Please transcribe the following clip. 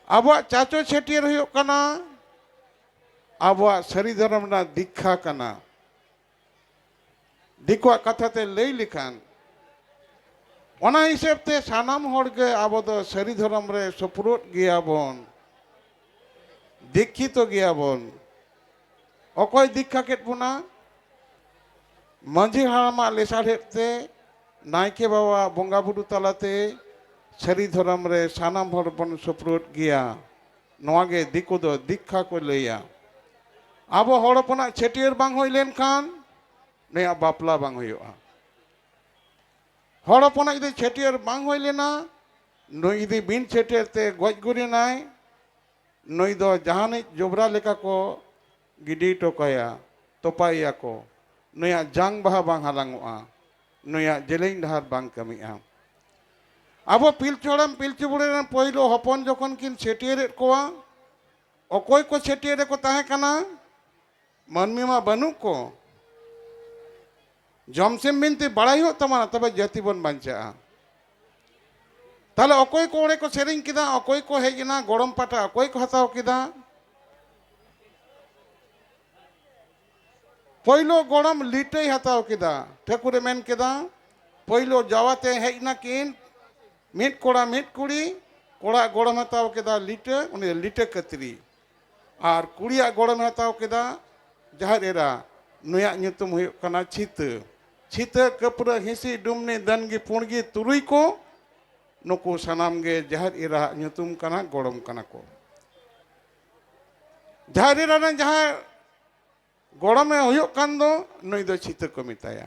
ᱟᱵᱚᱣᱟᱜ ᱪᱟᱪᱚ ᱪᱷᱟᱹᱴᱭᱟᱹᱨ ᱦᱩᱭᱩᱜ ᱠᱟᱱᱟ ᱟᱵᱚᱣᱟᱜ ᱥᱟᱹᱨᱤ ᱫᱷᱚᱨᱚᱢ ᱨᱮᱱᱟᱜ ᱫᱤᱠᱠᱷᱟ ᱠᱟᱱᱟ ᱫᱤᱠᱩᱣᱟᱜ ᱠᱟᱛᱷᱟ ᱛᱮ ᱞᱟᱹᱭ ᱞᱮᱠᱷᱟᱱ ᱚᱱᱟ ᱦᱤᱥᱟᱹᱵ ᱛᱮ ᱥᱟᱱᱟᱢ ᱦᱚᱲ ᱜᱮ ᱟᱵᱚ ᱫᱚ ᱥᱟᱹᱨᱤ ᱫᱷᱚᱨᱚᱢ ᱨᱮ ᱥᱩᱯᱨᱩᱫ ᱜᱮᱭᱟᱵᱚᱱ ᱫᱤᱠᱠᱷᱤᱛᱚ ᱜᱮᱭᱟᱵᱚᱱ ᱚᱠᱚᱭ ᱫᱤᱠᱠᱷᱟ ᱠᱮᱫ ᱵᱚᱱᱟ ᱢᱟᱺᱡᱷᱤ ᱦᱟᱲᱟᱢᱟᱜ ᱞᱮᱥᱟᱲᱦᱮᱫ ᱛᱮ ᱱᱟᱭᱠᱮ ᱵᱟᱵᱟ ᱵᱚᱸᱜᱟ ᱵᱩᱨᱩ ᱛᱟᱞᱟᱛᱮ ᱥᱟᱹᱨᱤ ᱫᱷᱚᱨᱚᱢ ᱨᱮ ᱥᱟᱱᱟᱢ ᱦᱚᱲ ᱵᱚᱱ ᱥᱩᱯᱨᱩᱫ ᱜᱮᱭᱟ ᱱᱚᱣᱟ ᱜᱮ ᱫᱤᱠᱩ ᱫᱚ ᱫᱤᱠᱠᱷᱟ ᱠᱚ ᱞᱟᱹᱭᱟ ᱟᱵᱚ ᱦᱚᱲ ᱦᱚᱯᱚᱱᱟᱜ ᱪᱷᱟᱹᱴᱭᱟᱹᱨ ᱵᱟᱝ ᱦᱩᱭ ᱞᱮᱱᱠᱷᱟᱱ ᱱᱩᱭᱟᱜ ᱵᱟᱯᱞᱟ ᱵᱟᱝ ᱦᱩᱭᱩᱜᱼᱟ ᱦᱚᱲ ᱦᱚᱯᱚᱱᱟᱜ ᱡᱩᱫᱤ ᱪᱷᱟᱹᱴᱭᱟᱹᱨ ᱵᱟᱝ ᱦᱩᱭ ᱞᱮᱱᱟ ᱱᱩᱭ ᱡᱩᱫᱤ ᱵᱤᱱ ᱪᱷᱟᱹᱴᱭᱟᱹᱨ ᱛᱮ ᱜᱚᱡ ᱜᱩᱨᱮᱱᱟᱭ ᱱᱩᱭ ᱫᱚ ᱡᱟᱦᱟᱱᱤᱡ ᱡᱚᱵᱽᱨᱟ ᱞᱮᱠᱟ ᱠᱚ ᱜᱤᱰᱤ ᱦᱚᱴᱚ ᱠᱟᱭᱟ, ᱛᱚᱯᱟᱭᱮᱭᱟ ᱠᱚ᱾ ᱱᱩᱭᱟᱜ ᱡᱟᱝ ᱵᱟᱦᱟ ᱵᱟᱝ ᱦᱟᱞᱟᱝᱚᱜᱼᱟ᱾ ᱱᱩᱭᱟᱜ ᱡᱮᱞᱮᱧ ᱰᱟᱦᱟᱨ ᱵᱟᱝ ᱠᱟᱹᱢᱤᱜᱼᱟ᱾ ᱟᱵᱚ ᱯᱤᱞᱪᱩ ᱦᱟᱲᱟᱢ ᱯᱤᱞᱪᱩ ᱵᱩᱲᱦᱤ ᱨᱮᱱ ᱯᱳᱭᱞᱳ ᱦᱚᱯᱚᱱ ᱡᱚᱠᱷᱚᱱ ᱠᱤᱱ ᱪᱷᱟᱹᱴᱭᱟᱹᱨᱮᱫ ᱠᱚᱣᱟ, ᱚᱠᱚᱭ ᱠᱚ ᱪᱷᱟᱹᱴᱭᱟᱹᱨ ᱨᱮᱠᱚ ᱛᱟᱦᱮᱸ ᱠᱟᱱᱟ? ᱢᱟᱹᱱᱢᱤ ᱢᱟ ᱵᱟᱹᱱᱩᱜ ᱠᱚ ᱡᱚᱢ ᱥᱮᱢ ᱵᱤᱱᱛᱤ ᱵᱟᱲᱟᱭ ᱦᱩᱭᱩᱜ ᱛᱟᱵᱚᱱᱟ ᱛᱚᱵᱮ ᱡᱟᱹᱛᱤ ᱵᱚᱱ ᱵᱟᱧᱪᱟᱜᱼᱟ ᱛᱟᱦᱚᱞᱮ ᱚᱠᱚᱭ ᱠᱚ ᱚᱸᱰᱮ ᱠᱚ ᱥᱮᱨᱮᱧ ᱠᱮᱫᱟ ᱚᱠᱚᱭ ᱠᱚ ᱦᱮᱡ ᱮᱱᱟ ᱜᱚᱲᱚᱢ ᱯᱟᱴᱟ ᱚᱠᱚᱭ ᱠᱚ ᱦᱟᱛᱟᱣ ᱠᱮᱫᱟ ᱯᱳᱭᱞᱳ ᱜᱚᱲᱚᱢ ᱞᱤᱴᱟᱹᱭ ᱦᱟᱛᱟᱣ ᱠᱮᱫᱟ ᱴᱷᱟᱹᱠᱩᱨᱮ ᱢᱮᱱ ᱠᱮᱫᱟ ᱯᱳᱭᱞᱳ ᱡᱟᱣᱟᱛᱮ ᱦᱮᱡ ᱱᱟᱠᱤᱱ ᱢᱤᱫ ᱠᱚᱲᱟ ᱢᱤᱫ ᱠᱩᱲᱤ ᱠᱚᱲᱟ ᱜᱚᱲᱚᱢ ᱦᱟᱛᱟᱣ ᱠᱮᱫᱟ ᱞᱤᱴᱟᱹ ᱩᱱᱤ ᱞᱤᱴᱟᱹ ᱠᱟᱹᱛᱨᱤ ᱟᱨ ᱠᱩᱲᱤᱭᱟᱜ ᱜᱚᱲᱚᱢᱮ ᱦᱟᱛᱟᱣ ᱠᱮᱫᱟ ᱡᱟᱦᱮᱨ ᱮᱨᱟ ᱱᱩᱭᱟᱜ ᱧᱩᱛᱩᱢ ᱦᱩᱭᱩᱜ ᱠᱟᱱᱟ ᱪᱷᱤᱛᱟᱹ ᱪᱷᱤᱛᱟᱹ ᱠᱟᱹᱯᱨᱟᱹ ᱦᱤᱸᱥᱤ ᱰᱩᱢᱱᱤ ᱫᱟᱹᱱᱜᱤ ᱯᱩᱬᱜᱤ ᱛᱩᱨᱩᱭ ᱠᱚ ᱱᱩᱠᱩ ᱥᱟᱱᱟᱢ ᱜᱮ ᱡᱟᱦᱮᱨ ᱮᱨᱟᱣᱟᱜ ᱧᱩᱛᱩᱢ ᱠᱟᱱᱟ ᱜᱚᱲᱚᱢ ᱠᱟᱱᱟ ᱠᱚ ᱡᱟᱦᱮᱨ ᱮᱨᱟ ᱨᱮᱱ ᱡᱟᱦᱟᱸᱭ ᱜᱚᱲᱚᱢᱮ ᱦᱩᱭᱩᱜ ᱠᱟᱱ ᱫᱚ ᱱᱩᱭ ᱫᱚ ᱪᱷᱤᱛᱟᱹ ᱠᱚ ᱢᱮᱛᱟᱭᱟ